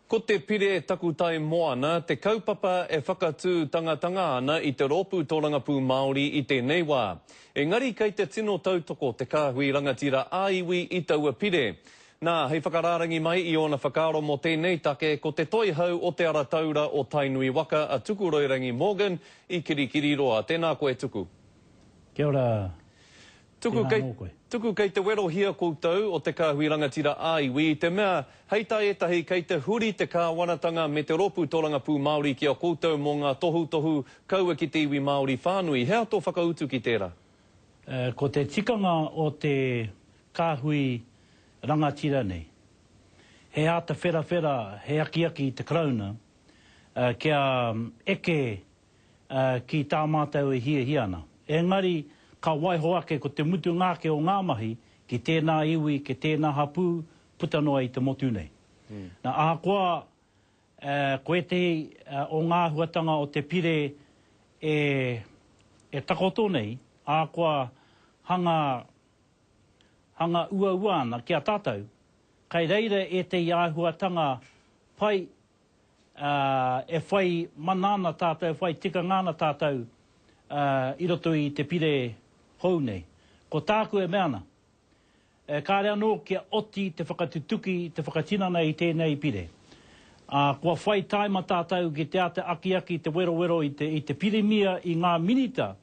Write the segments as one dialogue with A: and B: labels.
A: Ko te Pire Takutai Moana te kaupapa e whakatū tangatanga ana i te rōpū tōrangapū Māori i tēnei wā. Engari kei te tino tautoko te kāhui rangatira ā-iwi i taua pire. Nā, hei whakarārangi mai i ōna whakaaro mō tēnei take ko Te Toihau o Te Ara Taura o Tainui Waka a Tukuroirangi Morgan i Kirikiriroa. Tēnā koe Tuku. Kia ora.
B: Tuku kei,
A: tuku kei te werohia koutou o te Kāhui Rangatira ā-Iwi i te mea, hei tā ētahi, kei te huri te Kāwanatanga me te Rōpū Tōrangapū Māori ki a koutou mō ngā tohutohu kaua ki te iwi Māori whānui. He aha tō whakautu ki tērā? Ko te
B: tikanga o te Kāhui Rangatira nei, he āta wherawhera, he akiaki i te Karauna kia eke ki tā mātou e hiahia ana. Engari, ka waiho ake ko te mutunga ake o ngā mahi ki tēnā iwi, ki tēnā hapū, puta noa i te motu nei. Nā, ahakoa ko ētehi o ngā āhuatanga o te pire e takoto nei, ahakoa hanga hanga uaua ana ki a tātou, kei reira ētehi āhuatanga pai ā, e whai mana ana tātou, e whai tikanga ana tātou i roto i te pire hou nei. Ko tāku e mea ana, e kāre anō kia oti te whakatutuki, te whakatinana i tēnei pire. Ā, kua whai tāima tātou ki te āta akiaki te werowero i te Pirimia, i ngā Minita,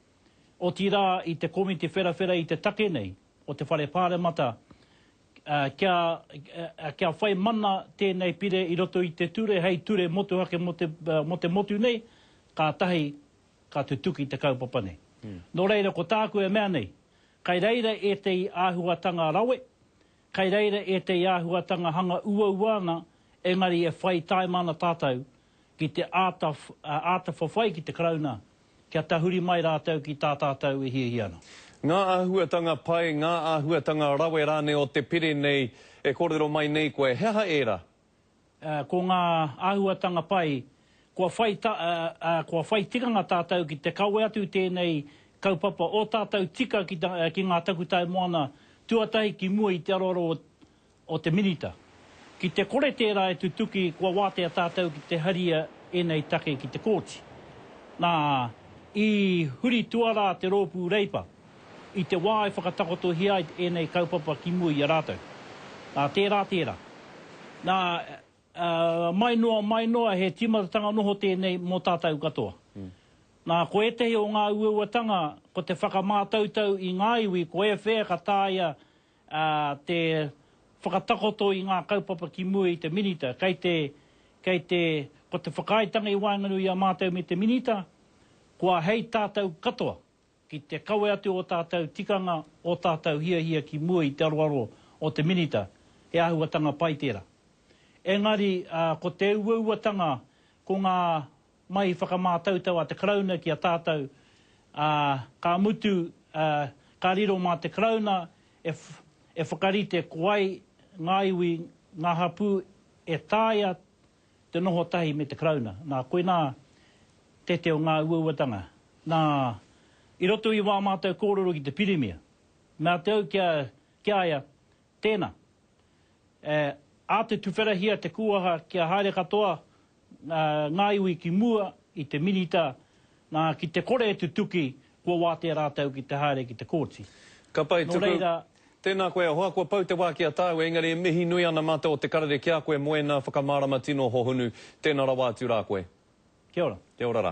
B: otirā i te Komiti Wherawhera i te take nei o te Whare Pāremata kia whai mana tēnei pire i roto i te ture hei ture motuhake mō te motu nei, kātahi ka tutuki te kaupapa nei. Nō reira ko tāku e mea nei, kei reira ētahi āhuatanga rawe, kei reira ētahi āhuatanga hanga uaua ana, engari e whai taima ana tātou ki te āta whawhai ki te Karauna Kia tahuri mai rātou ki tā tātou e hiahia ana. Ngā āhuatanga
A: pai, ngā āhuatanga rawe rānei o te pire nei e kōrero mai nei koe, he aha ērā? Ko
B: ngā āhuatanga pai, kua whai, kua whai tikanga tātou ki te kawe atu i tēnei kaupapa o tātou tika ki ngā takutai moana tuatahi ki mua i te aroaro o te Minita. Ki te kore tērā e tutuki, kua wātea tātou ki te haria ēnei take ki te Kōti. Nā, i huri tuarā te Rōpū Reipa i te wā e whakatakotohia ai ēnei kaupapa ki mua i a rātou. Nā, tērā tērā. Nā, mai noa, mai noa, he tīmatatanga noho tēnei mō tātou katoa. Nā, ko ētahi o ngā uauatanga, ko te whakamātautau i ngā iwi, ko e whea ka tāia te whakatakoto i ngā kaupapa ki mua i te Minita, kei te, kei te, ko te whakaaetanga i waenganui i a mātou me te Minita, kua hei tātou katoa, ki te kawe atu ō tātou tikanga, ō tātou hiahia ki mua i te aroaro o te Minita, he āhuatanga pai tērā. Engari, ko te uauatanga, ko ngā Mai i whakamātautau a te Karauna ki a tātou, ā, ka mutu, ā, ka riro mā te Karauna e, e whakarite ko ai ngā iwi, ngā hapū e taea te noho tahi me te Karauna. Nā, koinā te te o ngā uauatanga. Nā, i roto i wā mātou kōrero ki te Pirimia, mea te au ki a, ki a ia, Tēnā. E āta tuwherahia te kūaha kia haere katoa ngā iwi ki mua i te Minita nā ki te kore e tutuki kua wātea rātou ki te haere ki te Kōti. Ka pai tuku. Nō reira.
A: Tēnā koe hoa, kua pau te wā ki a tāu, engari e mihi nui ana mātou o te karere ki a koe, moena, whakamārama tino hohonu. Tēnā rawa atu rā koe. Kia ora. Kia ora rā.